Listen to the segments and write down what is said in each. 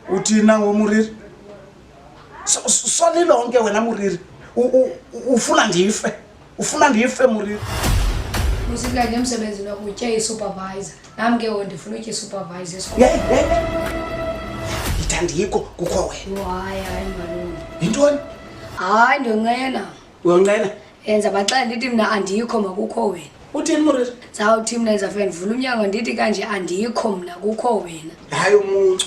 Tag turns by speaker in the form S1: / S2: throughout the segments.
S1: uthini na ngomuriri solilonke wena muriri ufuna ndife ufuna ndife muriri usithi
S2: kanti emsebenzini wakho utye isupervisor nam ke wo ndifuna utye isupervisor
S1: ithandikho kukho wena
S2: yintoni
S1: hayi
S2: ndonqena uyonqena
S1: yenza baxela
S2: ndithi mna andikho makukho wena uthini murisa
S1: ndizawuthi mna yenza fe
S2: ndivula umnyango ndithi kanje andikho mna kukho wena hayi umuntu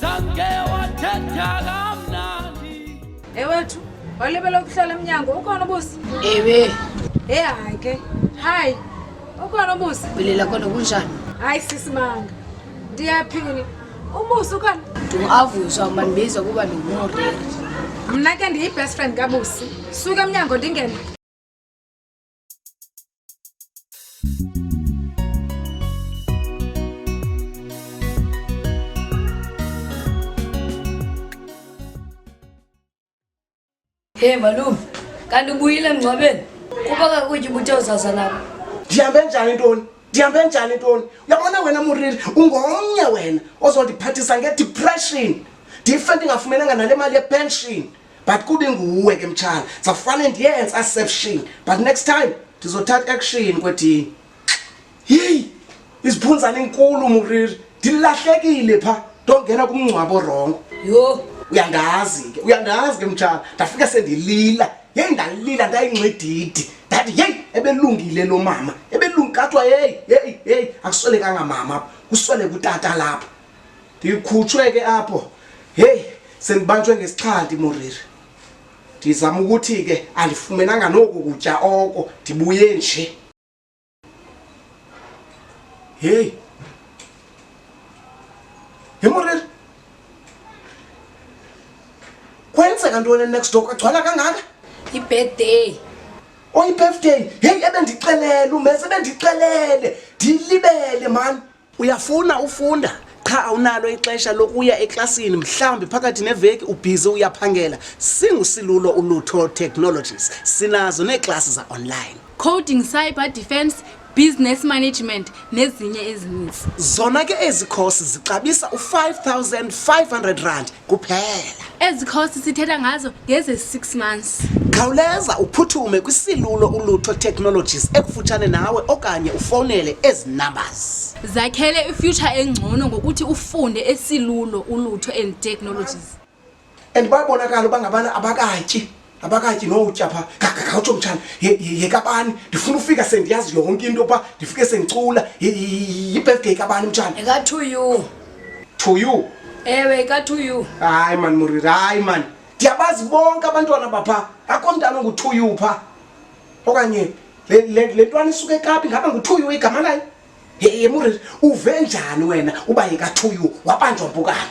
S3: zange wathetha kamnandi ewethu
S4: walibela ukuhlala emnyango ukhona ubusi ewe
S2: e hayi
S4: ke hayi ukhona ubusi bilela kona kunjani
S2: hayi sisimanga
S4: ndiyaphini ubusi ukhona ndingavuswa ukuba
S2: ndibiza kuba ndingumoreri mna ke
S4: ndiyibest friend kabusi suka emnyango ndingene
S2: Hey malume, kanti ubuyile emngcwabeni? Kuba kakutye ubuthe uzasa nabo. Ndihambe njani
S1: ntoni? Ndihambe njani ntoni? Uyabona wena Muriri, ungomnye wena ozondiphathisa ngedepression. Ndife ndingafumenanga nale mali yepension. but kubi nguwe ke mtshana safane ndiyenze aseption but next time ndizothatha action kwedini yeyi iziphunzana inkulu muriri ndilahlekile pha ndongena kumngcwabo rongo yho
S2: uyandazi ke
S1: uyandazi ke mtshana ndafike sendilila yeyi ndalila ndayingcedidi ndathi yeyi ebelungile lo mama ebelungi kathwa yeyi yeyi yeyi akuswelekanga mama kuswele kutata lapha ndikhutshwe ke apho heyi sendibanjwe ngesixhanti moriri ndizama ukuthi ke andifumenanga noku kutya oko ndibuye nje heyi he moriri kwenzeka ntoni next door kwagcwala kangaka yibirthday oyibirthday oh, heyi ebendixelele umese ebendixelele ndiyilibele mani uyafuna ufunda qha awunalo ixesha lokuya eklasini mhlawumbi phakathi neveki ubhizi uyaphangela singusilulo ulutho technologies sinazo neeklasi za-online coding cyber
S5: defense business management nezinye ezininzi zona ke ezi
S1: khosi zixabisa u-5500 rand kuphela ezi cost
S5: sithetha ngazo ngeze 6 months khawuleza
S1: uphuthume kwisilulo ulutho technologies ekufutshane nawe okanye ufowunele ezi numbers zakhele ifuture
S5: engcono ngokuthi ufunde esilulo ulutho and technologies and
S1: babonakala uba ngabana abakatyi abakatyi nowutya pha khawutsho mtshana yekabani ndifuna ufika sendiyazi yonke into yokuba ndifike sendicula yibirthday kabani mtshana eka-two you
S2: two you
S1: ewe eka-two
S2: you hayi mani muriri
S1: hayi mani ndiyabazi bonke abantwana bapha akho mntana ongu-two you pha okanye le ntwana isuke ekapi ngaba ngu-two you igama layo ye muriri uve njani wena uba yeka-two you wabanjwa mpukana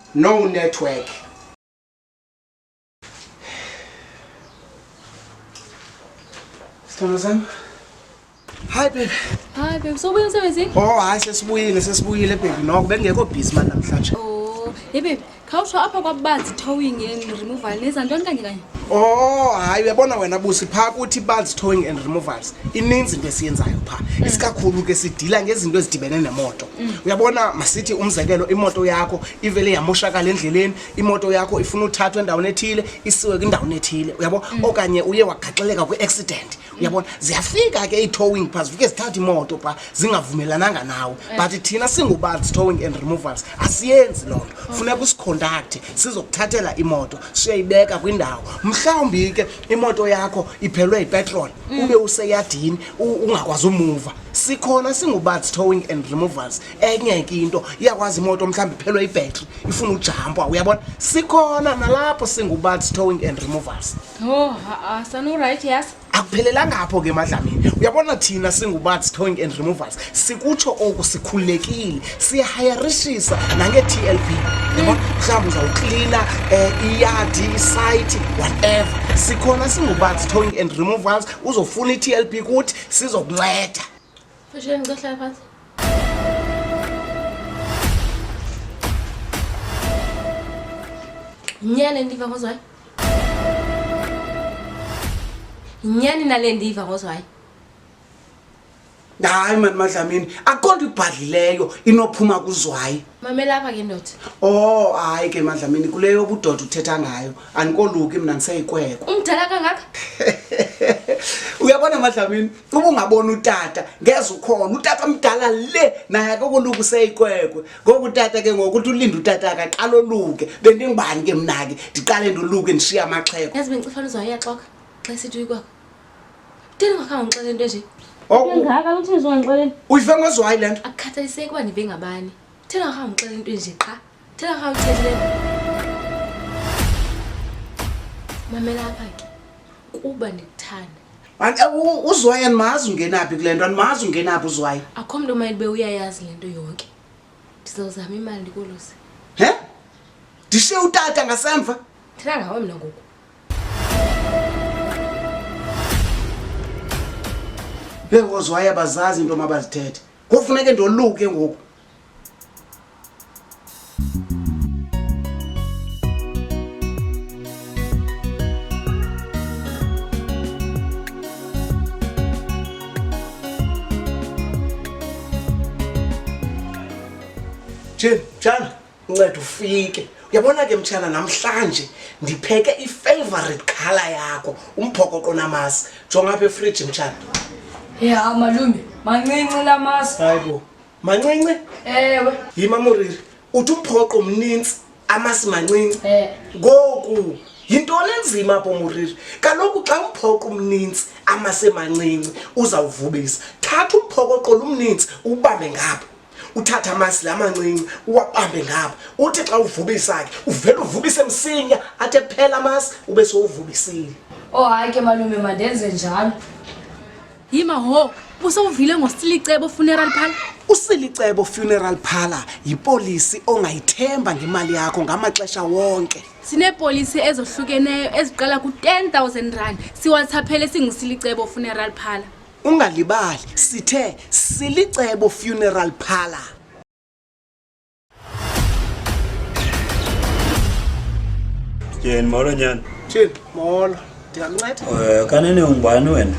S1: no network Sithando sami. Hi baby. Hi baby, sobuye
S5: emsebenzini? Oh, hayi sesibuyile,
S1: sesibuyile baby. Noko bengekho busy manje namhlanje. Oh, hey baby,
S5: khawusho apha kwabanzi towing and removal neza ntoni kanye kanye? Oh, hayi
S1: uyabona wena busi pha kuthi banzi towing and removals. Ininzi into esiyenzayo pha. Mm. Isikakhulu ke sidila ngezinto ezidibene nemoto. mm. uyabona masithi umzekelo imoto yakho ivele yamoshakala endleleni imoto yakho ifuna uthathwa endaweni ethile isiwe kwindaweni ethile uyabo mm. okanye uye wagaxeleka kwi-accident uyabona ziyafika ke ii-towing pha zifike zithatha imoto pha zingavumelananga nawe eh. but thina singubanzi towing and removals asiyenzi loo nto oh. funeka usikhondakthe sizokuthathela imoto siyayibeka kwindawo mhlawumbi ke imoto yakho iphelwe yipetroli mm. ube useyadini ungakwazi umuva sikhona singubaths towing and removals enye ke into iyakwazi imoto mhlawumbi iphelwe ibhetri ifuna ujampwa uyabona sikhona nalapho singubaths towing and removals oh,
S5: sanurayithi yas akuphelelanga apho ke
S1: emadlamini uyabona thina singubaths towing and removals sikutsho oku sikhululekile siyahayarishisa nange-t l p yabona mhlawumbi uzawuklina um eh, iyadi isayithi whatever sikhona singubaths towing and removals uzofuna i-t l p kuthi sizokunceda Fasheni
S5: ngizohlala phansi. Nyane ndiva ngozwayo. Nyani nale ndiva ngozwayo.
S1: hayi mani madlamini akukho nto ibhadlileyo inophuma kuzwayi Mamela apha ke ndoda.
S5: o hayi ke
S1: madlamini kule yobudoda uthetha ngayo andikoluki mna ndiseyikwekwa umdala kangaka uyabona madlamini uba ungabona utata ngeze ukhona utata mdala le naye akokoluka useyikwekwe ngoku utata ke ngoku uthi ulinde utata akaqala oluke bendingubani ke mna ke ndiqale ndoluke ndishiye amaxheko yazi bendicifana uzayaxoka
S5: xa isithi uyikwekwe ndini ngakhange undixele into enje ngaka uthini
S2: zongixeleni uyive ngozwayi le
S1: nto akukhathaliseki uba ndive
S5: ngabani thina ngakhange undixele into enje qha Tena mamela apha ke kuba ndikuthanda uzwayo
S1: andimazi ungenaphi kule nto andimazi ungenaphi uzwayo akho mntu omayelibe
S5: uyayazi le nto yonke ndizawuzama imali ndikolose he
S1: ndishe utata ngasemva thina ngawe mna
S5: ngoku
S1: bekozwayo abazazi into mabazithethe kofuneke ndoluke ngoku Jim, mtshana unceda ufike uyabona ke mtshana namhlanje ndipheke ifavorite khala yakho umphokoqo namasi jonga apha efriji mtshana ya
S2: malume mancinci la masi hayi bo
S1: mancinci ewe
S2: yima muriri
S1: uthi umphoqo mninzi amasi mancinci eh. ngoku yintoni enzima apho muriri kaloku xa umphoqo umninzi amasi emancinci uzawuvubisa thatha umphokoqo lumninzi ubambe ngapha uthatha amasi la mancinci uwabambe ngapha uthi xa uvubisa-ke uvele uvubise msinya athi ephela amasi ube sowuvubisile oh hayi ke
S2: malume mandenze njalo
S5: yima ho busowuvile ngosilicebo funeral phala usilicebo
S1: funeral phala yipolisi ongayithemba ngemali yakho ngamaxesha wonke sineepolisi
S5: ezohlukeneyo eziqala ku-10 000 rand siwathaphele singusilicebo funeral phala ungalibali
S1: sithe silicebo funeral phala
S6: Tyheni molo nyana. Tyhini molo.
S1: Ndiyakunceda? Eh kanene ungubani
S6: wena?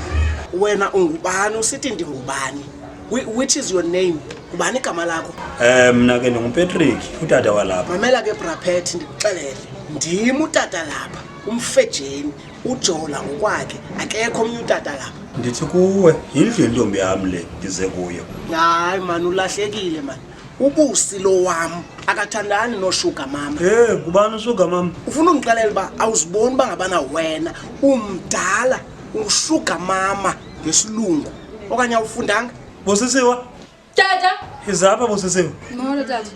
S6: Wena
S1: ungubani usithi ndingubani? Which is your name? Ngubani igama lakho? Eh mna ke
S6: ndinguPatrick, utata walapha. Mamela ke Brapet
S1: ndikuxelele. Ndim utata lapha, umfejeni, ujola ngokwakhe, akekho omnye utata lapha. Ndithi kuwe,
S6: yindlu yentombi yam le ndize kuyo. Hayi man
S1: ulahlekile man. ubusi lo wam akathandani noshuga mama e ngubani ushuga
S6: mama ufuna undixelela uba
S1: awuziboni uba ngabana wena umdala ushuga mama ngesilungu okanye awufundanga bosisiwa
S6: tata
S2: izapha bosisiwa
S6: molo
S2: tata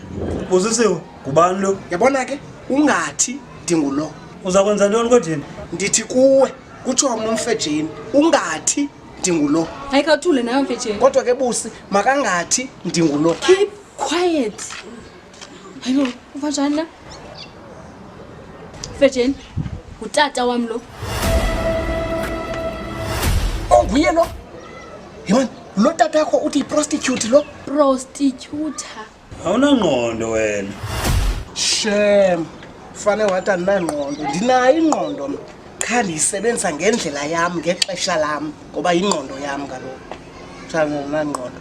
S2: bosisiwa
S6: ngubani lo yabona ke
S1: ungathi ndingulo uza kwenza ntoni
S6: kodini ndithi kuwe
S1: kutsho mna umfejeni ungathi ndingulo. Ayika uthule nayo
S5: mfetsheni. Kodwa ke busi
S1: makangathi ndingulo. Keep quiet.
S5: Hayibo, uva njani na? Mfetsheni, ngutata wam lo. Onguye
S1: oh, lo? Yimani, lo tata yakho uthi yiprostitute lo? Prostitute.
S5: awunangqondo
S6: wena shem
S1: fane wathi andinangqondo ndinayo ingqondo mna qha ndiyisebenzisa ngendlela yam ngexesha lam ngoba yingqondo yam kaloku ndinangqondo